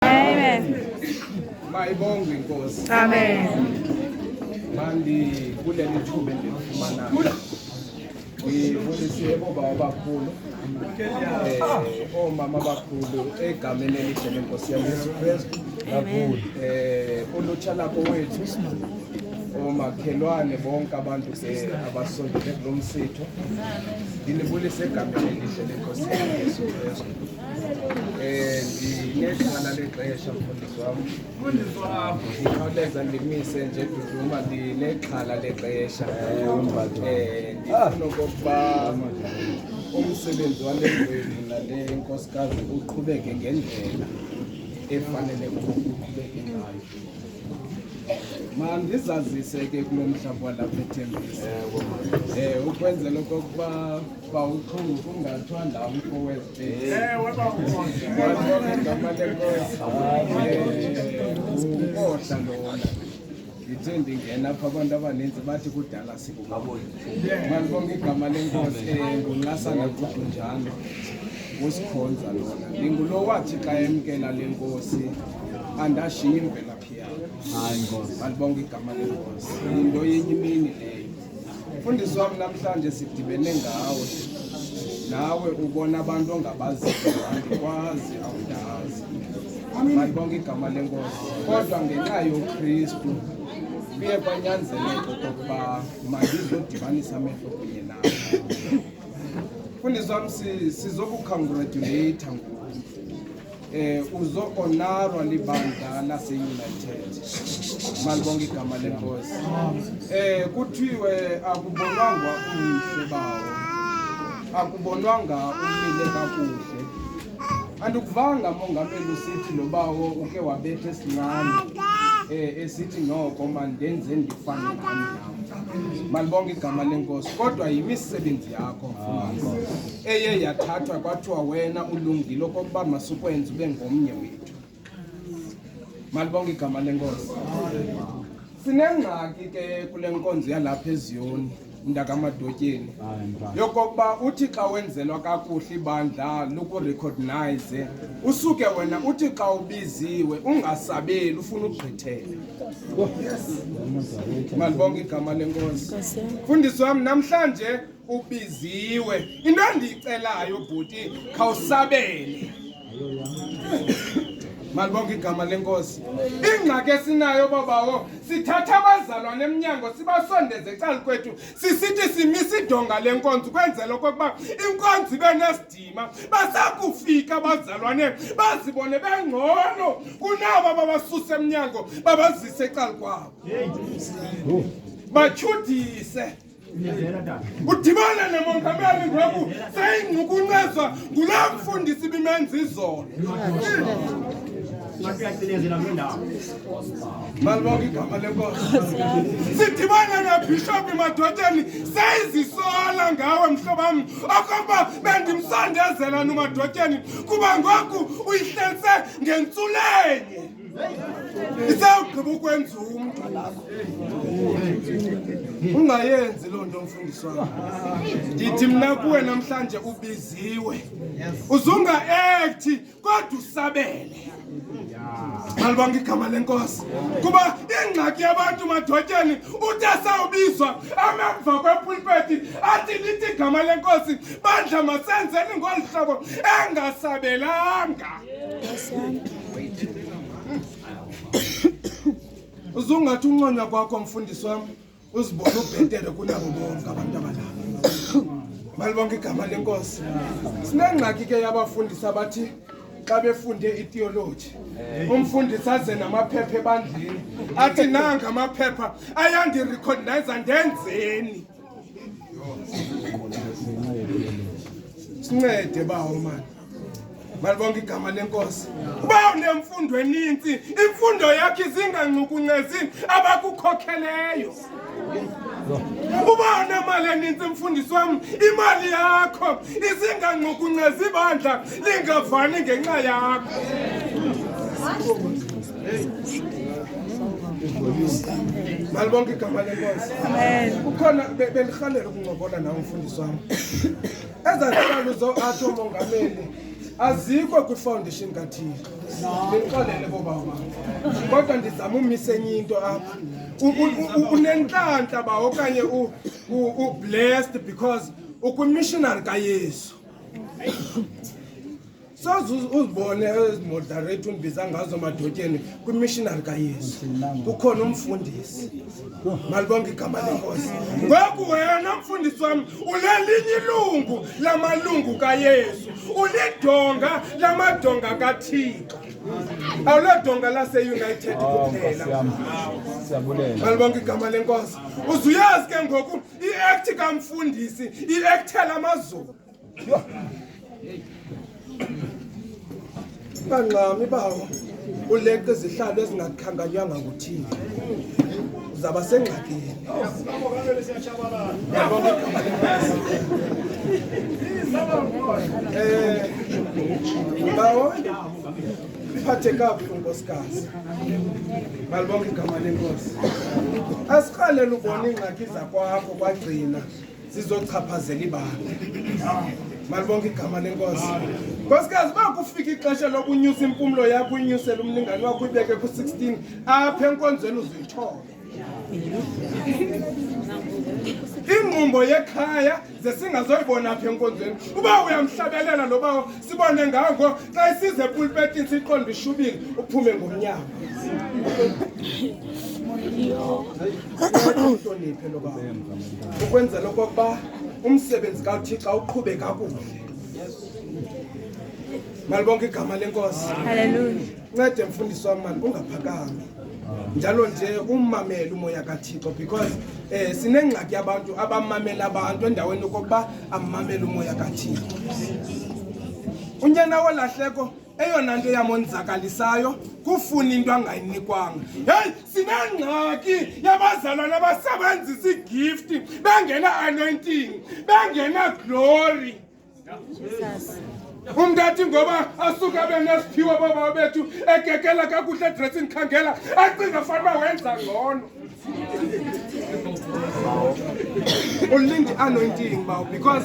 Amen. Mayibongwe inkosi. Amen. Mandibulele ithuba endilifumanayo. Ngibulisiyebo baba abakhulu eh, oomama abakhulu egameni elihle lenkosi yam yesu kristu um ulutsha lakho wethu omakhelwane bonke abantu ke abasondele kulo msitho ndinibulise egameni elihle lenkosi yam yesu kristu ndinexhala lexesha mfundisi wam ndikhawuleza ndimise nje duduma ndinexhala lexesha um ndifuna okokuba umsebenzi wale ndwevu nale nkosikazi uqhubeke ngendlela efanele uqhubeke ngayo mandizazise ke kulo mhlaba walapha ethembisa um ukwenzela okokuba uba uqhungu kungathwa ndawo kowezigama lenkosi unkohla lona ndithe ndingena apha abantu abaninzi bathi kudala sikumabona malibonga igama lenkosi ngunqasana kudunjana usikhonza lona ndingulo wathi xa emkela le nkosi andashiyi imvelaphi yam alibonga igama lenkosi yinto yenye imini leyo Mfundisi wam namhlanje sidibene ngawe nawe ubona abantu ongabaziyo andikwazi awundazi malibonke igama lenkosi kodwa ngenxa yokristu kuye kwanyanzeleka okokuba mandizodibanisa amehlo kunye nawe mfundisi wam sizokukhongratuleyitha ngoku Eh uzoonarwa libandla laseUnited. Malibonke igama lenkosi. Eh kuthiwe akubonwanga umhle bawo. Akubonwanga umile kakuhle. Andikuvanga mongameli usithi lo bawo uke wabetha esincane. Eh esithi noko mandenze ndifane nami. Malibonke igama lenkosi kodwa yimisebenzi yakho mfundisi eye yathathwa kwathiwa wena ulungile okokuba masukwenza ube ngomnye wethu malibonke igama lenkosi sinengxaki ke kule nkonzo yalapha eziyoni mntakamadotyeni yokokuba uthi xa wenzelwa kakuhle ibandla lukurekhognayize usuke wena uthi xa ubiziwe ungasabeli ufuna ukugqithela Malibonke igama lenkosi. Mfundisi wam namhlanje ubiziwe. Into endiyicelayo bhuti khawusabele. Malibonke igama lenkosi. Ingxaki esinayo babawo sithatha abazalwane emnyango sibasondeze ecalukwethu sisithi simisa idonga lenkonzo ukwenzela okokuba inkonzo ibe nest esinzima basakufika abazalwane bazibone bengcono kunaba babasuse emnyango babazise ecala kwabo batyhudise udibana nemongameli ngoku seyingcukuncezwa ngula mfundisi bimenza izolo sidibana nabhishophi madotyeni seyizisola ngawe mhlobam okokuba bendimsondezela nomadotyeni kuba ngoku uyihlelise ngentsulenye isawugqiba ukwenza umntu ungayenzi loo nto mfundisi wam ndithi mna kuwe namhlanje ubiziwe uzungaekthi kodwa usabele malibanga igama lenkosi kuba ingxaki yabantu madotyeni uthi asawubizwa amemva kwepulpeti athi lithi igama lenkosi bandla masenzeni ngolu hlobo engasabelanga uzungathi unconya kwakho mfundisi wam uzibona ubhetere kunabo bonke abantu abalapha malibonke igama lenkosi sinengxaki ke yabafundisi abathi xa befunde itiyoloji umfundisi aze namaphepha ebandleni athi nanga amaphepha ayandirekhondayiza ndenzeni sincede bawo mani malibonke igama lenkosi uba unemfundo eninzi imfundo yakhe izingancukuncezini abakukhokheleyo uba unemali eninzi mfundisi wam imali yakho izingancukuncezi ibandla lingavani ngenxa yakho malibonke igama lenkosi ukhona bendirhalela ukuncokola nawo mfundisi wam Ezaa zihlalo zo atsho umongameli azikho kwifoundation kathixo ndinixolele koobama kodwa ndizama umisa enye into apha U- u- u- unentlantla ba okanye u- u- ublessed because ukwimishonari kayesu soze uzibone ezimodarate umbiza ngazo madotyeni kwimishinari kayesu kukhona umfundisi malibonke igama lenkosi ngoku wena mfundisi wam ulelinye ilungu lamalungu kayesu ulidonga lamadonga kathixo awulodonga laseunited kuphela malibonke igama lenkosi uzuyazi ke ngoku iekthi kamfundisi iekthe lamazulu Yho. Bangxami bawo uleqa izihlalo ezingakhankanywanga nguthini uzaba sengxakini um bawo iphathe kabuhlungu nkosikazi malibonke igama lenkosi asiqalele ubona iingxaki zakwakho kwagcina zizochaphazela ibanga malibonke igama lenkosi nkosikazi uba kufika ixesha lokunyusa impumlo yakho uyinyusele umlingane wakho uyibeke ku-16 apha enkonzweni uzuyithobe ingqumbo yekhaya zesingazoyibona apha enkonzweni uba uyamhlabelela loba sibone ngako xa isize epulpetini siqonde ishubile uphume ngomnyango uhloniphe lo baba ukwenzela okokuba umsebenzi kawuthixo uqhube kakuhle malibonke igama lenkosi ncede mfundisi wam mali ungaphakami njalo nje ummamele umoya kathixo because um sinengxaki abantu abamamela abantu endaweni yokokuba ammamele umoya kathixo unyana wolahleko eyona nto yamonzakalisayo kufuna into angayinikwanga heyi sinengxaki yabazalwana basebenzisa igifti bengena-anointing bengena-glory umntathi ngoba asuke abe nesiphiwo boobaba bethu egegela kakuhle edressini khangela acinga fanuba wenza ngcono ulinde anointing bawo because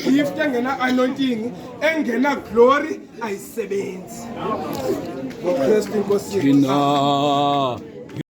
igift engena anointing engena glory ayisebenzi ngokristu inkosi yethu